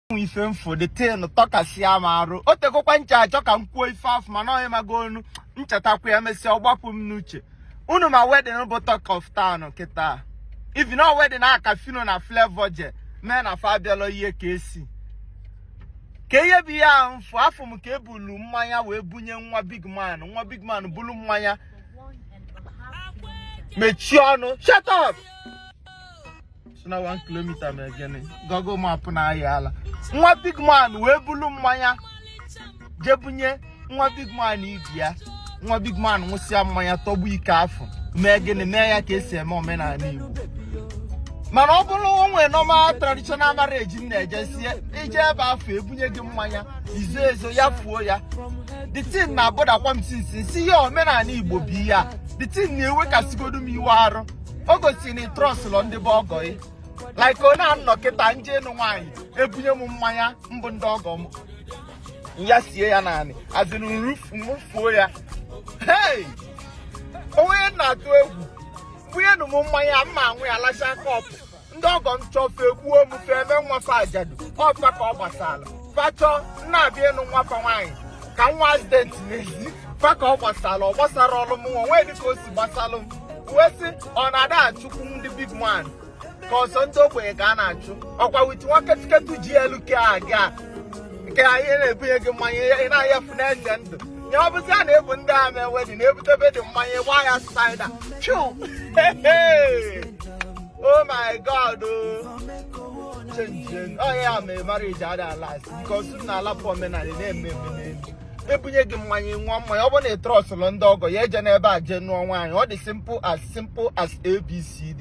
nwe ife m fụ the thing tọkasịa m arụ o tekọkwa ncha achọ ka m kwuo ife afụ mana ọhịa mago onu m chetakwa ya mesịa ọ gbapụ m n'uche unu ma wedding bụ talk of town kịta if you know wedding aka phyno na flavour je mee na fa abịala ihe ka esi ka ihe bụ ihe ahụ m fụ afụọ m ka ebulu mmanya wee bunye nwa big man nwa big man bulu mmanya mechie ọnụ shut up si na 1 kilomita ma egene google map na ahịa ala nwa big man wee bulu mmanya jebunye nwa big man ị bịa nwa big man nwụsịa mmanya tọgbọ iko afụ mee gịnị mee ya ka esi eme omenala igbo mana ọ bụrụ o nwe normal traditional marriage m na-ejesi eje ebe afụ ebunye gị mmanya i zo ezo yafuo ya the thing na-abụdakwa m since sị ihe omenala igbo bụ ihe a the thing na-ewekasịgodu m iwe arụ o gosiri na ị trọsụlọ ndị bụ ọgọ ị like ọ na-anọ kịta m je ịnụ nwaanyị ebunye m mmanya mbụ ndị ọgọ m ya sie ya n'anị azịrị m rufuo ya hey onye na-atụ egwu bunyenụ m mmanya m ma anwụ ya lacha kọpụ ndị ọgọ m chọ fa egbuo m fa eme nwa fa ajadu ọ fa ka ọ gbasara fa chọ m na-abịa ịnụ nwa fa nwaanyị ka m nwee accident n'ezi fa ka ọ gbasara ọ gbasara ọrụ m nwa nwee dịka o si gbasalụ m wee sị ọ na-ada achụkwu ndị big man ka ọ sọ ndị ogbenye ka a na-achụ ọkwa wit nwa ketuketu ji elu ke aga nke anyị na-ebunye gị mmanya ị na-ayafu na-eze ndụ nye ọ bụzia na-ebu ndị a mee wedding ebutebe dị mmanya gbaa ya spaida chụ oh my god chenjin onye ya mere marriage ada alast because na a lapụ omenala na-eme eme n'elu ebunye gị mmanya nwụa mmanya ọ bụ na ị trọsụlọ ndị ọgọ ya ejene ebe a jee nụọ nwaanyị ọ dị simple as simple as abcd